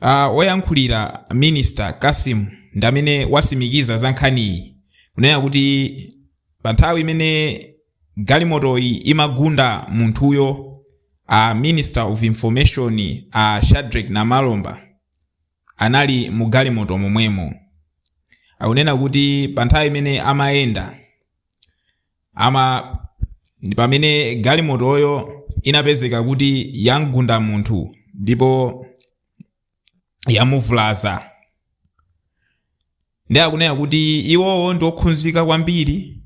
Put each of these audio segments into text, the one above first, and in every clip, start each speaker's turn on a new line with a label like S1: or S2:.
S1: Ah, woyankhulira minister Kasim ndi amene wasimikiza za nkhaniyi kunena kuti pa nthawi imene galimotoyi imagunda munthuyo a minister of information a Shadrack Namalomba anali mu galimoto momwemo akunena kuti pa nthawi imene amayenda ama ndi pamene galimotoyo inapezeka kuti yamgunda munthu ndipo yamuvulaza ndiye akunena kuti iwowo ndi okhunzika kwambiri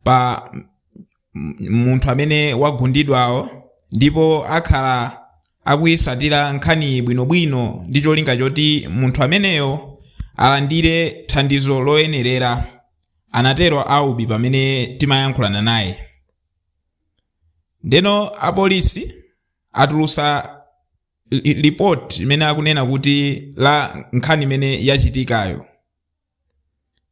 S1: pa m- munthu amene wagundidwawo ndipo akhala akuyisatira nkhani bwinobwino ndi cholinga choti munthu ameneyo alandire thandizo loyenerera anatero Aubi pamene timayankhulana naye. Ndeno apolisi atulusa li- report limene akunena kuti la nkhani imene yachitikayo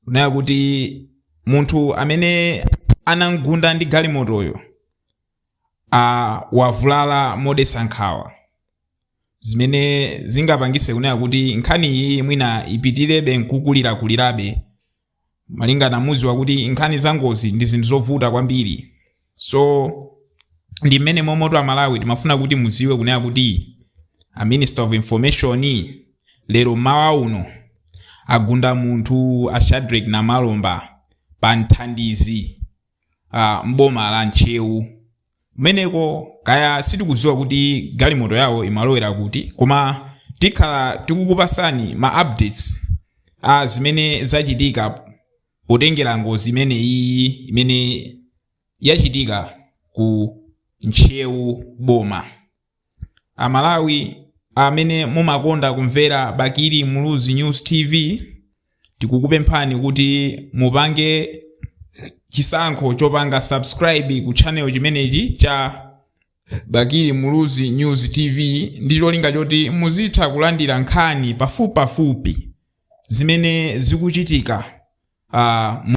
S1: kunena kuti munthu amene anamgunda ndi galimotoyo a wavulala modetsa nkhawa zimene zingapangise kunena kuti nkhani iyi mwina ipitirebe nkukulirakulirabe malingana muziwa kuti nkhani za ngozi ndi zinthu zovuta kwambiri so ndi mmene momoto amalawi timafuna kuti muziwe kunena kuti a minister of information lero mmawa uno agunda munthu a shadrack namalomba pa mthandizi uh, mboma la ntcheu kumeneko kaya sitikuziwa kuti galimoto yawo imalowera kuti koma tikhala tikukupasani ma updates a zimene zachitika potengera ngozi imene iyi imene yachitika ku ntcheu boma Amalawi amene mumakonda kumvera Bakili Muluzi News TV tikukupemphani kuti mupange chisankho chopanga subscribe ku channel chimenechi cha Bakili Muluzi News TV ndi cholinga choti muzitha kulandira nkhani pafupipafupi zimene zikuchitika ah, mu-